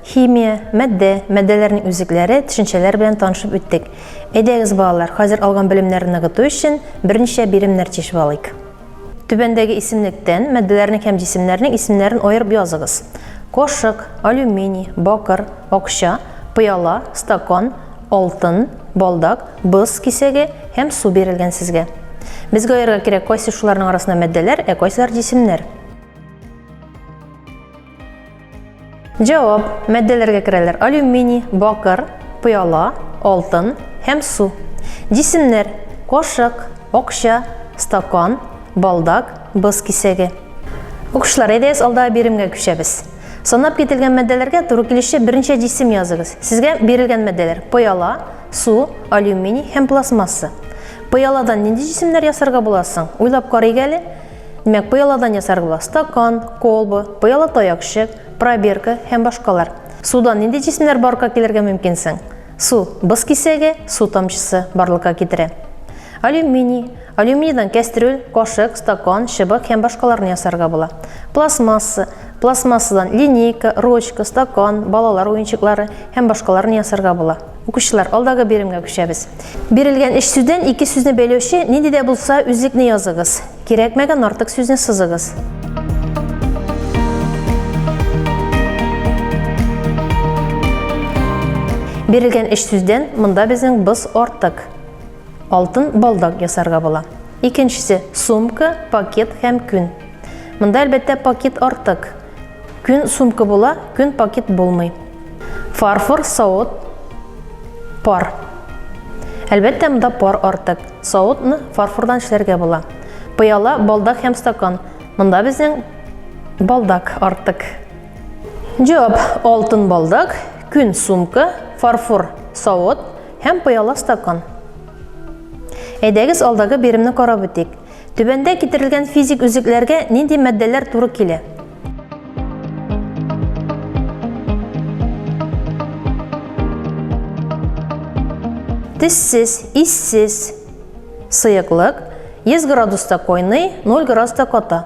химия, мәддә, мәддәләрнең үзекләре, төшенчәләр белән танышып үттек. Әйдәгез, балалар, хәзер алган белемнәрне ныгыту өчен берничә биремнәр тишеп алыйк. Түбәндәге исемлектән матдәләрнең һәм җисемнәрнең исемнәрен аерып языгыз. Кошык, алюминий, бакыр, акча, пыяла, стакан, алтын, балдак, боз кисәге һәм су бирелгән сезгә. Безгә аерырга кирәк, кайсы шуларның арасында матдәләр, ә кайсылар җисемнәр. Җавап, мәддәләргә керәләр алюминий, бакыр, пыяла, алтын һәм су. Җисемнәр, кашык, акча, стакан, балдак, боз кисәге. Укучылар, әйдәгез алдагы биремгә күчәбез. Санап кителгән мәддәләргә туры килүче берничә җисем языгыз. Сезгә бирелгән мәддәләр, пыяла, су, алюминий һәм пластмасса. Пыяладан нинди җисемнәр ясарга була соң? Уйлап карыйк әле. Димәк, пыяладан ясарга стакан, колба, пыяла таякчык, пробирка һәм башкалар. Судан нинди җисемнәр барлыкка килергә мөмкин соң? Су, боз кисәге, су тамчысы барлыкка китерә. Алюминий, алюминийдан кәстрүл, кашык, стакан, чыбык һәм башкаларны ясарга була. Пластмасса, пластмассадан линейка, ручка, стакан, балалар уенчыклары һәм башкаларны ясарга була. Укучылар, алдагы биремгә күчәбез. Бирелгән өч сүздән ике сүзне бәйләүче нинди дә булса үзлекне языгыз. Кирәкмәгән артык сүзне сызыгыз. Бирелгән өч сүздән монда безнең быз артык. Алтын балдак ясарга була. Икенчесе, сумка, пакет һәм күн. Монда, әлбәттә, пакет артык. Күн сумка була, күн пакет булмый. Фарфор, савыт, пар. Әлбәттә, монда пар артык. Савытны фарфордан эшләргә була. Пыяла, балдак һәм стакан. Монда безнең балдак артык. Җавап: алтын балдак, күн сумка, фарфор савыт һәм пыяла стакан. Әйдәгез алдагы биремне карап үтик. Түбәндә китерелгән физик үзекләргә нинди матдәләр туры килә? Тессез, иссез. Сыеклык 100 градуста койный, 0 градуста кота.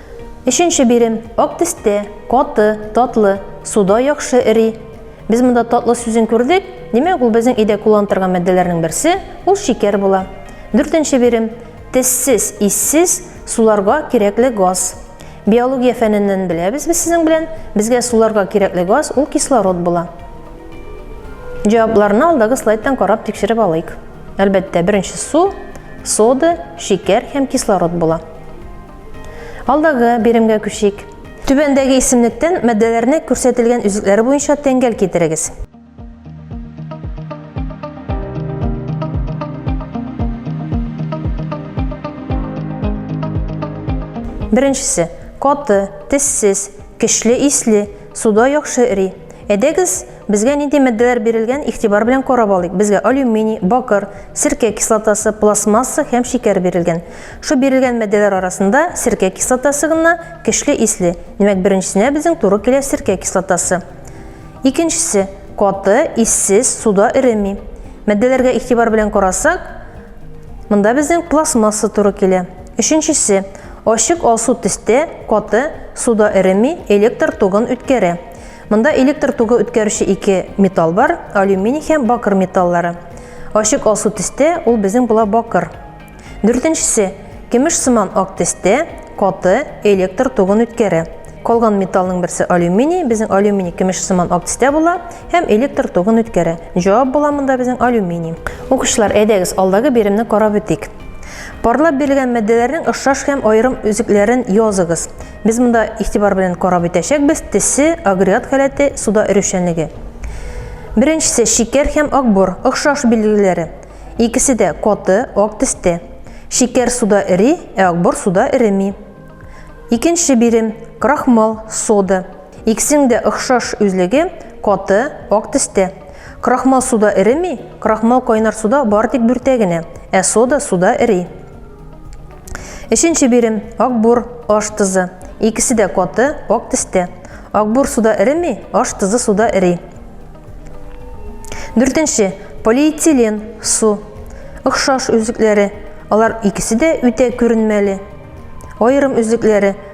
Өченче бирем, ак тесте, каты, татлы, суда яхшы эри. Без монда татлы сүзен күрдек, димәк ул безнең өйдә кулланып торган матдәләрнең берсе, ул шикәр була. Дүртенче бирем, тессез, иссез, суларга кирәкле газ. Биология фәненнән беләбез без сезнең белән, безгә суларга кирәкле газ, ул кислород була. Җавапларны алдагы слайдтан карап тикшереп алыйк. Әлбәттә, беренче су, сода, шикәр һәм кислород була. Алдагы биремгә күчик. Түбәндәге исемлектән матдәләрне күрсәтелгән үзлекләре буенча тәңгәл китерегез. Беренчесе, каты, тессез, кечле исле, суда яхшы эри. Әйдәгез, Безгә нинди матдәләр бирелгән, игътибар белән карап алыйк. Безгә алюминий, бакыр, серкә кислотасы, пластмасса һәм шикәр бирелгән. Шу бирелгән матдәләр арасында серкә кислотасы гына көчле исле. Димәк, беренчесенә безнең туры килә серкә кислотасы. Икенчесе, каты, иссез, суда эреми. Матдәләргә игътибар белән карасак, монда безнең пластмасса туры килә. Өченчесе, ачык алсу төстә, каты, суда эреми, электр тогын үткәрә. Монда электр тогы үткәрүче ике металл бар, алюминий һәм бакыр металлары. Ачык алсу төстә ул безнең була бакыр. Дүртенчесе, кемеш сыман ак төстә, каты электр тогын үткәрә. Калган металлның берсе алюминий, безнең алюминий кемеш сыман ак төстә була һәм электр тогын үткәрә. Җавап була монда безнең алюминий. Укучылар, әйдәгез, алдагы биремне карап үтик. Парлап бирелгән матдәләрнең ошаш һәм аерым үзекләрен языгыз. Без монда игътибар белән карап үтәчәкбез, төсе, агрегат халәте, суда өрүчәнлеге. Беренчесе шикәр һәм акбор, охшаш билгеләре. Икесе дә каты, ак төстә. Шикәр суда эри, ә акбор суда эреми. Икенче бирем, крахмал, сода. Икесенең дә охшаш үзлеге, каты, ак төстә. Крахмал суда эреми, крахмал кайнар суда бары тик бүртә генә, ә сода суда эри. Өченче бирем, акбур, аш тозы. Икесе дә каты, ак тестә. Акбур суда эреми, аш тозы суда эри. Дүртенче, полиэтилен, су. Охшаш үзлекләре. Алар икесе дә үтә күренмәле. Аерым үзлекләре,